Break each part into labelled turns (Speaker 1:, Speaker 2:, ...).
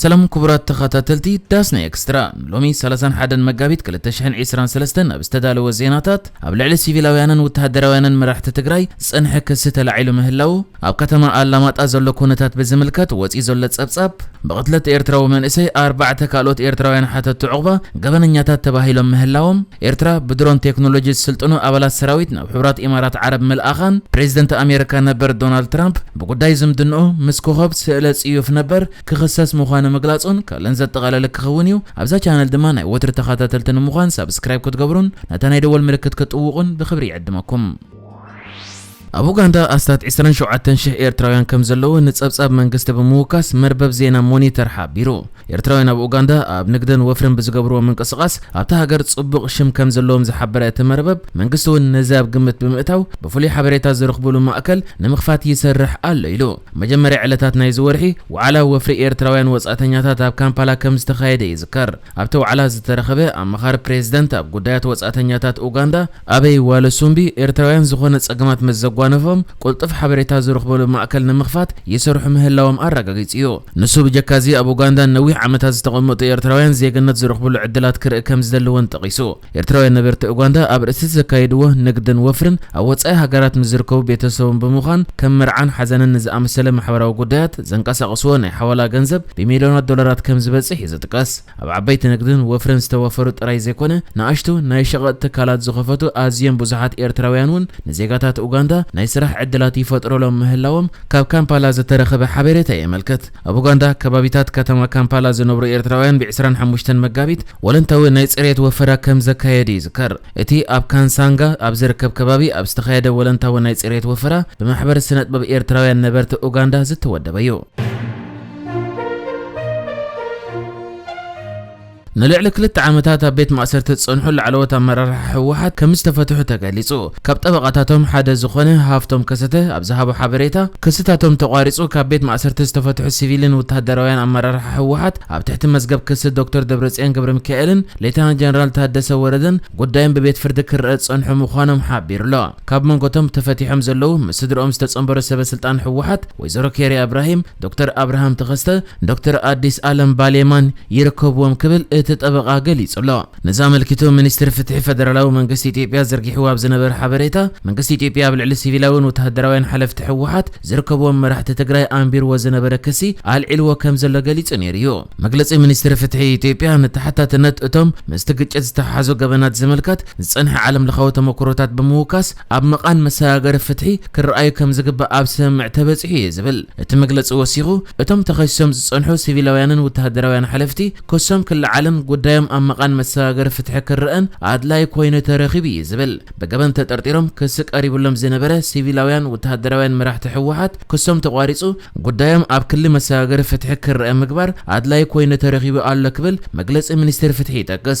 Speaker 1: ሰላም ኩቡራት ተኻታተልቲ ዳስና ኤክስትራ ንሎሚ ሰላሳን ሓደን መጋቢት ክልተ ሽሕን ዒስራን ሰለስተን ኣብ ዝተዳለወ ዜናታት ኣብ ልዕሊ ሲቪላውያንን ውተሃደራውያንን መራሕቲ ትግራይ ዝጸንሐ ክሲ ተላዒሉ ምህላዉ ኣብ ከተማ ኣላማጣ ዘሎ ኩነታት ብዝምልከት ወጺኡ ዘሎ ጸብጻብ ብቕትለት ኤርትራዊ መንእሰይ ኣርባዕተ ካልኦት ኤርትራውያን ሓተቲ ዑቕባ ገበነኛታት ተባሂሎም ምህላዎም ኤርትራ ብድሮን ቴክኖሎጂ ዝስልጥኑ ኣባላት ሰራዊት ናብ ሕቡራት ኢማራት ዓረብ ምልኣኻን ፕሬዚደንት ኣሜሪካ ነበር ዶናልድ ትራምፕ ብጉዳይ ዝምድንኡ ምስ ኮኾብ ስእለ ጽዩፍ ነበር ክኽሰስ ምዃኑ ምግላጹን ካልእን ዘጠቓለለ ክኸውን እዩ። ኣብዛ ቻነል ድማ ናይ ወትሪ ተኻታተልቲ ንምዃን ሳብስክራይብ ክትገብሩን ነታ ናይ ደወል ምልክት ክትጥውቑን ብኽብሪ ይዕድመኩም። ኣብ ኡጋንዳ ኣስታት ዕስራን ሸውዓተን ሽሕ ኤርትራውያን ከምዘለዉ ንጸብጻብ መንግስቲ ብምውካስ መርበብ ዜና ሞኒተር ሓቢሩ። ኤርትራውያን ኣብ ኡጋንዳ ኣብ ንግድን ወፍርን ብዝገብርዎ ምንቅስቓስ ኣብታ ሃገር ጽቡቕ ሽም ከም ዘለዎም ዝሓበረ እቲ መርበብ፣ መንግስቲ'ውን ነዚ ኣብ ግምት ብምእታው ብፍሉይ ሓበሬታ ዝረኽቡሉ ማእከል ንምኽፋት ይሰርሕ ኣሎ ኢሉ። መጀመርያ ዕለታት ናይዚ ወርሒ፣ ዋዕላ ወፍሪ ኤርትራውያን ወጻእተኛታት ኣብ ካምፓላ ከም ዝተኻየደ ይዝከር። ኣብቲ ዋዕላ ዝተረኸበ ኣማኻሪ ፕሬዝደንት ኣብ ጉዳያት ወጻእተኛታት ኡጋንዳ፣ ኣበይ ዋለ ሱምቢ ኤርትራውያን ዝኾነ ጸገማት ምስ ዘጓነፎም ቁልጡፍ ሓበሬታ ዝርኽቡሉ ማእከል ንምኽፋት ይሰርሑ ምህላዎም ኣራጋጊጹ እዩ። ንሱ ብጀካዚ ኣብ ኡጋንዳ ንነዊሕ ዓመታት ዝተቐመጡ ኤርትራውያን ዜግነት ዝርኽቡሉ ዕድላት ክርኢ ከምዝደሊ እውን ጠቒሱ። ኤርትራውያን ነበርቲ ኡጋንዳ ኣብ ርእሲቲ ዘካይድዎ ንግድን ወፍርን ኣብ ወጻኢ ሃገራት ምስ ዝርከቡ ቤተሰቦም ብምዃን ከም መርዓን ሓዘንን ንዝኣመሰለ ማሕበራዊ ጉዳያት ዘንቀሳቕስዎ ናይ ሓዋላ ገንዘብ ብሚልዮናት ዶላራት ከምዝበጽሕ እዩ ዝጥቀስ። ኣብ ዓበይቲ ንግድን ወፍርን ዝተወፈሩ ጥራይ ዘይኮነ፣ ንኣሽቱ ናይ ሸቐጥ ትካላት ዝኸፈቱ ኣዝዮም ብዙሓት ኤርትራውያን እውን ንዜጋታት ኡጋንዳ ናይ ስራሕ ዕድላት ይፈጥሩሎም ምህላዎም ካብ ካምፓላ ዝተረኸበ ሓቤሬታ የመልክት። ኣብ ኡጋንዳ ከባቢታት ከተማ ካምፓላ ዝነብሩ ኤርትራውያን ብ ዕስራን ሓሙሽተን መጋቢት ወለንታዊ ናይ ጽሬት ወፈራ ከም ዘካየዱ ይዝከር። እቲ ኣብ ካንሳንጋ ኣብ ዝርከብ ከባቢ ኣብ ዝተኻየደ ወለንታዊ ናይ ጽሬት ወፈራ ብማሕበር ስነጥበብ ኤርትራውያን ነበርቲ ኡጋንዳ ዝተወደበ'ዩ። ንልዕሊ ክልተ ዓመታት ኣብ ቤት ማእሰርቲ ዝጸንሑ ላዕለዎት ኣመራርሓ ህወሓት ከም ዝተፈትሑ ተገሊጹ። ካብ ጠበቓታቶም ሓደ ዝኾነ ሃፍቶም ከሰተ ኣብ ዝሃቦ ሓበሬታ፣ ክስታቶም ተቋሪጹ ካብ ቤት ማእሰርቲ ዝተፈትሑ ሲቪልን ወተሃደራውያን ኣመራርሓ ህወሓት ኣብ ትሕቲ መዝገብ ክሲ ዶክተር ደብረጽዮን ገብረሚካኤልን ሌተናል ጀነራል ታደሰ ወረደን ጉዳዮም ብቤት ፍርዲ ክረኣ ዝጸንሑ ምዃኖም ሓቢሩ'ሎ። ካብ መንጎ'ቶም ተፈቲሖም ዘለዉ ምስ ስድርኦም ዝተጸንበሩ ሰበ ስልጣን ህወሓት ወይዘሮ ኬርያ እብራሂም፣ ዶክተር ኣብርሃም ተኸስተ፣ ዶክተር ኣዲስ ኣለም ባሌማን ይርከብዎም ክብል እቲ ጠበቓ ገሊጹ'ሎ። ነዚ ኣመልኪቱ ሚኒስትሪ ፍትሒ ፈደራላዊ መንግስቲ ኢትዮጵያ ዘርጊሕዎ ኣብ ዝነበረ ሓበሬታ፣ መንግስቲ ኢትዮጵያ ኣብ ልዕሊ ሲቪላዊን ወተሃደራውያን ሓለፍቲ ህወሓት ዝርከብዎም መራሕቲ ትግራይ ኣንቢርዎ ዝነበረ ክሲ ኣልዒልዎ ከም ዘሎ ገሊጹ ነይሩ'ዩ። መግለጺ ሚኒስትሪ ፍትሒ ኢትዮጵያ ንተሓታትነት እቶም ምስቲ ግጭት ዝተሓሓዙ ገበናት ዝምልከት ዝጸንሐ ዓለምለኻዊ ተመኩሮታት ብምውካስ፣ ኣብ መቓን መሰጋገሪ ፍትሒ ክረኣዩ ከም ዝግባእ ኣብ ስምምዕ ተበጺሑ እዩ ዝብል እቲ መግለጺ ወሲኹ፣ እቶም ተኸሲሶም ዝጸንሑ ሲቪላውያንን ውተሃደራውያን ሓለፍቲ ክሶም ክለዓልን ጉዳዮም ኣብ መቓን መሰጋገሪ ፍትሒ ክረኣን ኣድላዪ ኮይኑ ተረኺቡ እዩ ዝብል ብገበን ተጠርጢሮም ክሲ ቀሪብሎም ዝነበረ ሲቪላውያን ውተሃደራውያን መራሕቲ ህወሓት ክሶም ተቋሪጹ ጉዳዮም ኣብ ክሊ መሰጋገሪ ፍትሒ ክረኣ ምግባር ኣድላዪ ኮይኑ ተረኺቡ ኣሎ ክብል መግለጺ ሚኒስቴር ፍትሒ ይጠቅስ።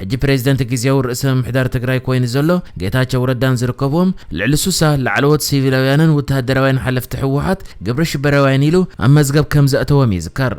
Speaker 1: ሕጂ ፕሬዚደንት ግዝያዊ ርእሰ ምምሕዳር ትግራይ ኮይኑ ዘሎ ጌታቸው ረዳን ዝርከቡዎም ልዕሊ ሱሳ ላዕለዎት ሲቪላውያንን ውተሃደራውያን ሓለፍቲ ህወሓት ግብረ ሽበራውያን ኢሉ ኣብ መዝገብ ከምዘእተዎም ይዝከር።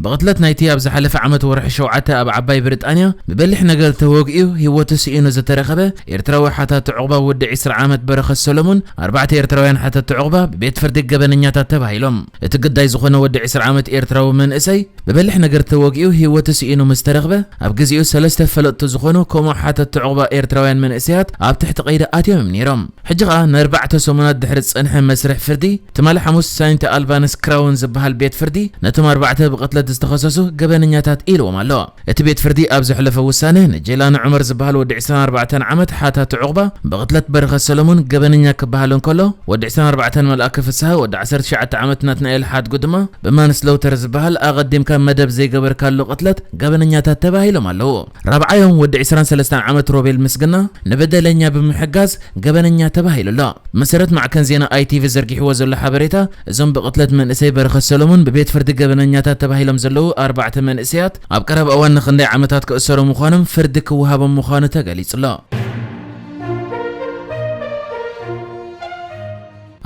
Speaker 1: ብቕትለት ናይቲ ኣብ ዝሓለፈ ዓመት ወርሒ ሸውዓተ ኣብ ዓባይ ብሪጣንያ ብበሊሕ ነገር ተወግኡ ህይወቱ ስኢኑ ዝተረኸበ ኤርትራዊ ሓታቲ ዑቕባ ወዲ ዕስራ ዓመት በረኸት ሰሎሙን ኣርባዕተ ኤርትራውያን ሓተቲ ዑቕባ ብቤት ፍርዲ ገበነኛታት ተባሂሎም እቲ ግዳይ ዝኾነ ወዲ ዕስራ ዓመት ኤርትራዊ መንእሰይ ብበሊሕ ነገር ተወጊኡ ህይወቱ ስኢኑ ምስ ተረኽበ፣ ኣብ ግዜኡ ሰለስተ ፈለጥቱ ዝኾኑ ከምኡ ሓተትቲ ዑቕባ ኤርትራውያን መንእሰያት ኣብ ትሕቲ ቀይዲ ኣትዮም እዮም ነይሮም። ሕጂ ከኣ ንኣርባዕተ ሰሙናት ድሕሪ ዝጸንሐ መስርሕ ፍርዲ፣ ትማሊ ሓሙስ ሳይንት ኣልባንስ ክራውን ዝበሃል ቤት ፍርዲ ነቶም ኣርባዕተ ብቕትለት ዝተኸሰሱ ገበነኛታት ኢልዎም ኣሎ። እቲ ቤት ፍርዲ ኣብ ዘሕለፎ ውሳነ፣ ንጀይላኒ ዑመር ዝበሃል ወዲ ዕስራን ኣርባዕተን ዓመት ሓታቲ ዑቕባ፣ ብቕትለት በረኸት ሰለሙን ገበነኛ ክበሃል እንከሎ፣ ወዲ ዕስራን ኣርባዕተን መልኣከ ፍስሃ፣ ወዲ ዓሰርተ ትሽዓተ ዓመት ናትናኤል ሓድጉ ድማ ብማንስለውተር ዝበሃል ኣቐዲምካ መደብ ዘይገበርካሉ ቅትለት ገበነኛታት ተባሂሎም ኣለዉ። ራብዓዮም ወዲ ዕስራን ሰለስተን ዓመት ሮቤል ምስግና፣ ንበደለኛ ብምሕጋዝ ገበነኛ ተባሂሉ ኣሎ። ብመሰረት ማዕከን ዜና ITV ዘርጊሕዎ ዘሎ ሓበሬታ፣ እዞም ብቕትለት መንእሰይ በረኸት ሰሎሙን ብቤት ፍርዲ ገበነኛታት ተባሂሎም ዘለዉ ኣርባዕተ መንእሰያት ኣብ ቀረባ እዋን ንኽንደይ ዓመታት ክእሰሩ ምዃኖም ፍርዲ ክወሃቦም ምዃኑ ተገሊጹ'ሎ።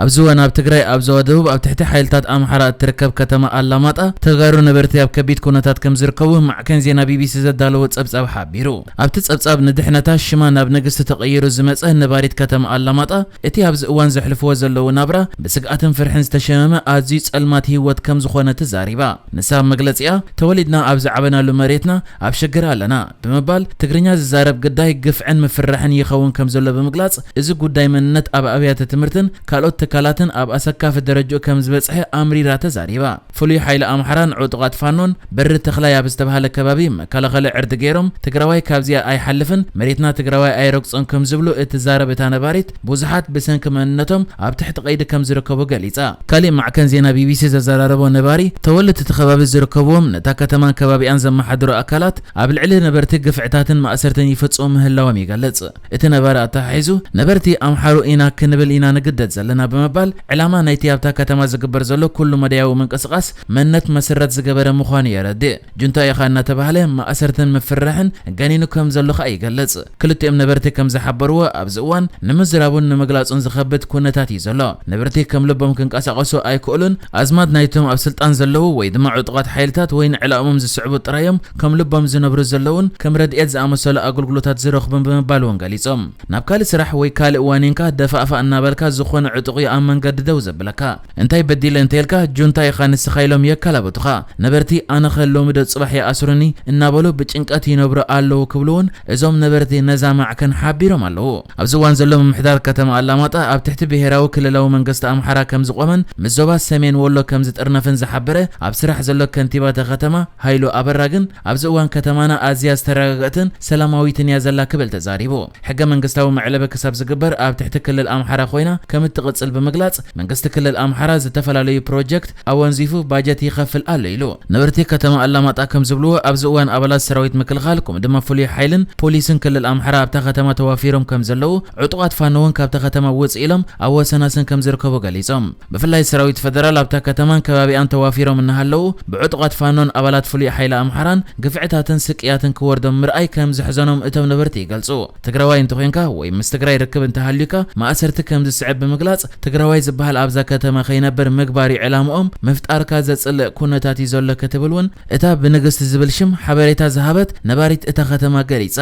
Speaker 1: ኣብዚ እዋን ኣብ ትግራይ ኣብ ዞባ ደቡብ ኣብ ትሕቲ ሓይልታት ኣምሓራ እትርከብ ከተማ ኣላማጣ ተጋሩ ነበርቲ ኣብ ከቢድ ኩነታት ከምዝርከቡ ማዕከን ዜና ቢቢሲ ዘዳለዎ ጸብጻብ ሓቢሩ። ኣብቲ ጸብጻብ ንድሕነታ ሽማ ናብ ንግስቲ ተቐይሩ ዝመጸ ነባሪት ከተማ ኣላማጣ፣ እቲ ኣብዚ እዋን ዘሕልፍዎ ዘለዉ ናብራ ብስግኣትን ፍርሕን ዝተሸመመ ኣዝዩ ጸልማት ህይወት ከም ዝኾነ ተዛሪባ። ንሳ ኣብ መግለጺኣ፣ ተወሊድና ኣብ ዝዓበናሉ መሬትና ኣብ ሽግር ኣለና ብምባል፣ ትግርኛ ዝዛረብ ግዳይ ግፍዕን ምፍርራሕን ይኸውን ከም ዘሎ ብምግላጽ፣ እዚ ጉዳይ መንነት ኣብ ኣብያተ ትምህርትን ካልኦት ትካላትን ኣብ ኣሰካፊ ደረጅኡ ከም ዝበጽሐ ኣምሪራ ተዛሪባ። ፍሉይ ሓይሊ ኣምሓራን ዑጡቓት ፋኖን በሪ ተኽላይ ኣብ ዝተብሃለ ከባቢ መከላኸሊ ዕርዲ ገይሮም ትግራዋይ ካብዚኣ ኣይሓልፍን መሬትና ትግራዋይ ኣይረግፆን ከምዝብሉ እትዛረብ እታ ነባሪት ብዙሓት ብሰንኪ መንነቶም ኣብ ትሕቲ ቀይዲ ከምዝርከቡ ገሊፃ። ካሊእ ማዕከን ዜና ቢቢሲ ዘዘራረቦ ነባሪ ተወለድቲ እቲ ከባቢ ዝርከብዎም ነታ ከተማን ከባቢኣን ዘመሓድሩ ኣካላት ኣብ ልዕሊ ነበርቲ ግፍዕታትን ማእሰርትን ይፍፅሙ ምህላዎም ይገልፅ። እቲ ነባሪ ኣተሓሒዙ፣ ነበርቲ ኣምሓሩ ኢና ክንብል ኢና ንግደድ ዘለና ብምባል፣ ዕላማ ናይቲ ኣብታ ከተማ ዝግበር ዘሎ ኩሉ መዳያዊ ምንቅስቓስ መንነት መሰረት ዝገበረ ምዃኑ የረድእ። ጁንታ ኢኻ እናተባህለ ማእሰርትን ምፍርራሕን ገኒኑ ከም ዘሎ ከኣ ይገልጽ። ክልቲኦም ነበርቲ ከም ዝሓበርዎ፣ ኣብዚ እዋን ንምዝራቡን ንምግላጹን ዝኸብድ ኵነታት እዩ ዘሎ። ነበርቲ ከም ልቦም ክንቀሳቐሱ ኣይክእሉን። ኣዝማድ ናይቶም ኣብ ስልጣን ዘለዉ ወይ ድማ ዕጡቓት ሓይልታት ወይ ንዕላኦምም ዝስዕቡ ጥራይ'ዮም ከም ልቦም ዝነብሩ ዘለዉን ከም ረድኤት ዝኣመሰሉ ኣገልግሎታት ዝረኽቡን ብምባል'ውን ገሊጾም። ናብ ካልእ ስራሕ ወይ ካልእ ዋኒንካ ደፋእፋእ እናበልካ ዝኾነ ዕጡቕ'ዩ ኣብ መንገዲ ደው ዘብለካ። እንታይ በዲለ እንተኢልካ ጁንታ ኢኻ ንስኻ ኢሎም የከላብቱኻ። ነበርቲ ኣነኸ ሎሚዶ ጽባሕ ይኣስሩኒ እናበሉ ብጭንቀት ይነብሩ ኣለዉ ክብሉ'ውን እዞም ነበርቲ ነዛ ማዕከን ሓቢሮም ኣለዉ። ኣብዚ እዋን ዘሎ ምምሕዳር ከተማ ኣላማጣ ኣብ ትሕቲ ብሄራዊ ክልላዊ መንገስቲ ኣምሓራ ከምዝቖመን ምስ ዞባ ሰሜን ወሎ ከምዝጥርነፍን ዝሓበረ ኣብ ስራሕ ዘሎ ከንቲባ እታ ከተማ ሃይሉ ኣበራ ግን ኣብዚ እዋን ከተማና ኣዝያ ዝተረጋገእትን ሰላማዊትን እያ ዘላ ክብል ተዛሪቡ። ሕገ መንግስታዊ መዕለቢ ክሳብ ዝግበር ኣብ ትሕቲ ክልል ኣምሓራ ኮይና ከምትቕፅል ብምግላፅ መንግስቲ ክልል ኣምሓራ ዝተፈላለዩ ፕሮጀክት ኣወንዚፉ ባጀት ይኸፍል ኣሎ ኢሉ። ነበርቲ ከተማ ኣላማጣ ከምዝብልዎ፣ ኣብዚ እዋን ኣባላት ሰራዊት ምክልኻል ከምኡ ድማ ፍሉይ ሓይልን ፖሊስን ክልል ኣምሓራ ኣብታ ከተማ ተዋፊሮም ከምዘለዉ፣ ዕጡቓት ፋኖ እውን ካብታ ከተማ ውፅእ ኢሎም ኣብ ወሰናስን ከምዝርከቡ ገሊፆም። ብፍላይ ሰራዊት ፈደራል ኣብታ ከተማን ከባቢኣን ተዋፊሮም እናሃለዉ ብዕጡቓት ፋኖን ኣባላት ፍሉይ ሓይሊ ኣምሓራን ግፍዕታትን ስቅያትን ክወርዶም ምርኣይ ከምዘሕዘኖም እቶም ነበርቲ ይገልፁ። ትግራዋይ እንተኾይንካ ወይ ምስ ትግራይ ርክብ እንተሃልዩካ ማእሰርቲ ከምዝስዕብ ብምግላፅ ትግራዋይ ዝበሃል ኣብዛ ከተማ ከይነብር ምግባር ዩ ዕላምኦም፣ ምፍጣርካ ዘፅልእ ኩነታት ዩ ዘሎ ክትብል ውን እታ ብንግስቲ ዝብል ሽም ሓበሬታ ዝሃበት ነባሪት እታ ከተማ ገሊፃ።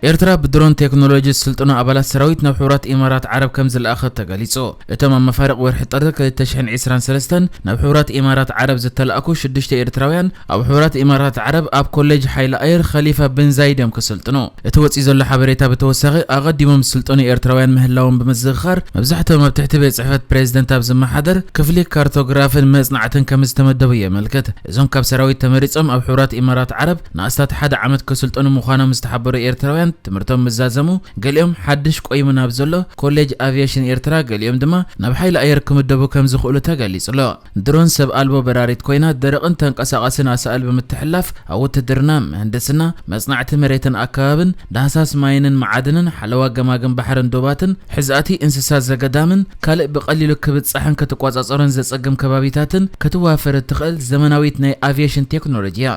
Speaker 1: ኤርትራ ብድሮን ቴክኖሎጂ ዝስልጥኑ ኣባላት ሰራዊት ናብ ሕቡራት ኢማራት ዓረብ ከምዝለኣኸት ተገሊጹ። እቶም ኣብ መፋርቕ ወርሒ ጥሪ ክልተ ሽሕን ዒስራን ሰለስተን ናብ ሕቡራት ኢማራት ዓረብ ዝተላእኩ ሽዱሽተ ኤርትራውያን፣ ኣብ ሕቡራት ኢማራት ዓረብ ኣብ ኮሌጅ ሓይሊ ኣየር ኸሊፋ ብን ዛይድ እዮም ክስልጥኑ። እቲ ወጺኡ ዘሎ ሓበሬታ ብተወሳኺ፣ ኣቐዲሞም ዝስልጠኑ ኤርትራውያን ምህላዎም ብምዝኽኻር፣ መብዛሕትኦም ኣብ ትሕቲ ቤት ጽሕፈት ፕሬዝደንት ኣብ ዝመሓደር ክፍሊ ካርቶግራፍን መጽናዕትን ከምዝተመደቡ የመልክት። እዞም ካብ ሰራዊት ተመሪጾም ኣብ ሕቡራት ኢማራት ዓረብ ንኣስታት ሓደ ዓመት ከስልጠኑ ምዃኖም ዝተሓበሩ ኤርትራውያን ትምህርቶም ምስ ዛዘሙ ገሊኦም ሓድሽ ቆይሙ ናብ ዘሎ ኮሌጅ ኣቭየሽን ኤርትራ ገሊኦም ድማ ናብ ሓይሊ ኣየር ክምደቡ ከም ዝኽእሉ ተገሊጹ'ሎ። ድሮን ሰብ ኣልቦ በራሪት ኮይና ደረቕን ተንቀሳቓስን ኣሳእል ብምትሕልላፍ ኣብ ውትድርና፣ ምህንድስና፣ መጽናዕቲ መሬትን ኣከባብን፣ ዳህሳስ ማይንን መዓድንን፣ ሓለዋ ገማግም ባሕርን ዶባትን፣ ሕዛእቲ እንስሳ ዘገዳምን ካልእ ብቐሊሉ ክብጻሕን ክትቆጻጸሮን ዘጸግም ከባቢታትን ክትዋፈር እትኽእል ዘመናዊት ናይ ኣቭየሽን ቴክኖሎጂ እያ።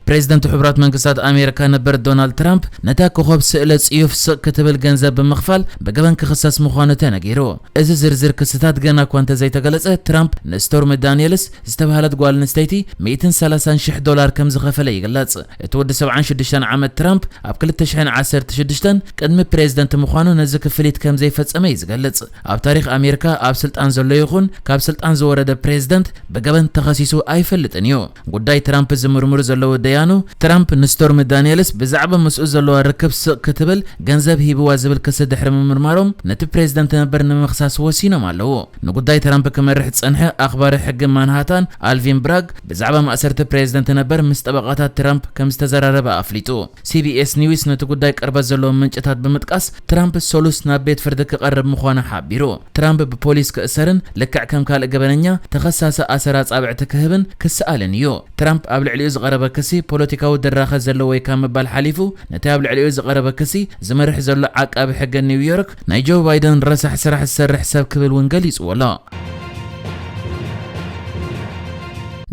Speaker 1: ፕሬዝደንት ሕቡራት መንግስታት ኣሜሪካ ነበር ዶናልድ ትራምፕ ነታ ኮኾብ ስእለ ጽዩፍ ስቕ ክትብል ገንዘብ ብምኽፋል ብገበን ክኽሰስ ምዃኑ ተነጊሩ። እዚ ዝርዝር ክስታት ገና እኳ እንተዘይተገለጸ ትራምፕ ንስቶርሚ ዳኒየልስ ዝተብሃለት ጓል ኣንስተይቲ ሚእትን ሰላሳን ሽሕ ዶላር ከም ዝኸፈለ ይግለጽ። እቲ ወዲ ሰብዓን ሽዱሽተን ዓመት ትራምፕ ኣብ ክልተ ሽሕን ዓሰርተ ሽዱሽተን ቅድሚ ፕሬዝደንት ምዃኑ ነዚ ክፍሊት ከም ዘይፈጸመ እዩ ዝገልጽ። ኣብ ታሪኽ ኣሜሪካ ኣብ ስልጣን ዘሎ ይኹን ካብ ስልጣን ዝወረደ ፕሬዝደንት ብገበን ተኸሲሱ ኣይፈልጥን እዩ። ጉዳይ ትራምፕ ዝምርምሩ ዘለዉ ደያኑ ትራምፕ ንስቶርሚ ዳኒየልስ ብዛዕባ ምስኡ ዘለዋ ርክብ ስቕ ክትብል ገንዘብ ሂብዋ ዝብል ክሲ ድሕሪ ምምርማሮም ነቲ ፕሬዝደንት ነበር ንምኽሳስ ወሲኖም ኣለዉ። ንጉዳይ ትራምፕ ክመርሕ ዝጸንሐ ኣኽባሪ ሕጊ ማንሃታን ኣልቪን ብራግ፣ ብዛዕባ ማእሰርቲ ፕሬዝደንት ነበር ምስ ጠበቓታት ትራምፕ ከምዝተዘራረበ ኣፍሊጡ። ሲቢኤስ ኒውስ ነቲ ጉዳይ ቅርበት ዘለዎም ምንጭታት ብምጥቃስ፣ ትራምፕ ሰሉስ ናብ ቤት ፍርዲ ክቐርብ ምዃኑ ሓቢሩ። ትራምፕ ብፖሊስ ክእሰርን ልክዕ ከም ካልእ ገበነኛ ተኸሳሲ ኣሰር ኣጻብዕቲ ክህብን ክስኣልን እዩ። ትራምፕ ኣብ ልዕሊኡ ዝቐረበ ክሲ ፖለቲካዊ ድራኸ ዘለዎ'ዩ ካብ ምባል ሓሊፉ፣ ነቲ ኣብ ልዕሊኡ ዝቐረበ ክሲ ዝመርሕ ዘሎ ዓቃቢ ሕጊ ኒውዮርክ፣ ናይ ጆ ባይደን ረሳሕ ስራሕ ዝሰርሕ ሰብ ክብል እውን ገሊጽዎ ኣሎ።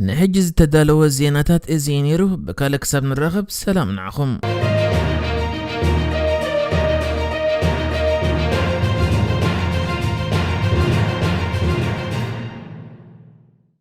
Speaker 1: ንሕጂ ዝተዳለወ ዜናታት እዚ እዩ ነይሩ። ብካልእ ክሳብ ንራኸብ ሰላም ንዓኹም።